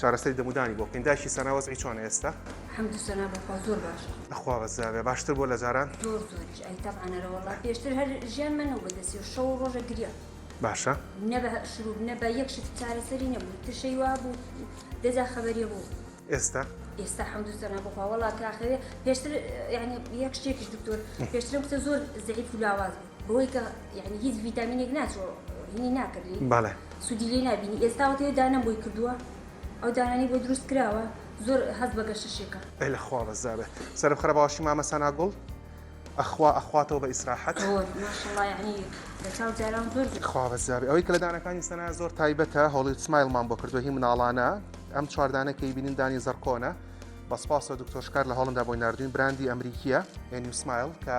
چارەسەری دەمودانی بۆ بکەین دایکی سەنا وەزعی چۆنە ئێستا حمد سەنا بەخوا زۆر باشە ئەخوا بەزاێ باشتر بۆ لە جاران زۆر زۆریش ئەی تەبانەرە وڵا پێشتر هەر ژیان من و بەدەسی و شەو ڕۆژە گریا باشە نە بە شروب نە بە یەک شت چارەسەری نەبوو ترشەی وا بوو دەجا خەبەریە بوو ئێستا ئێستا حمد سەنا بخوا وڵا کاخەوێ پێشتر یعنی یەک شتێکیش دکتۆر پێشترم کتە زۆر زعیف و لاواز بوو بەوەی کە یعنی هیچ ڤیتامینێک ناچۆ هینی ناکرد لی بەڵێ سوودی لێ نبینی ئێستاوە تێ دانەم بۆی کردووە ئەو دانانی بۆ دروست کراوە زۆر هەز بە گەشەشێکە ئەی لە خوا بەزدابێ سەرم خرە باشی مامە سانا گوڵ ئەخوا ئەخواتەوە بە ئیسراحەت خوا بەزدابێ ئەوەی کە لە دانەکانی سەنا زۆر تایبەتە هەڵی سمایلمان بۆ کردو هی مناڵانە ئەم چواردانەکەی بینین دانی زەرکۆنە بەسپاسەوە دکتۆشکار لە هەڵمدا بۆی نردوین براندی ئەمریکیە ئەنیسمایل کە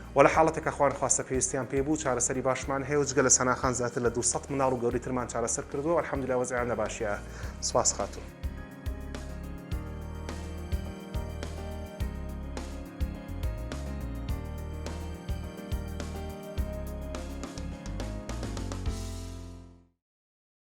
وە لە حاڵەتێکا خوا نەخواستە پێویستیان پێی بوو چارەسەری باشمان هەیە و جگە لە سەنا خان زیاتر لە دوو سەد منداڵ و گەورەی ترمان چارەسەر کردووە و الحمدللە وەزعیان لە باشیە سوپاس خاتوون.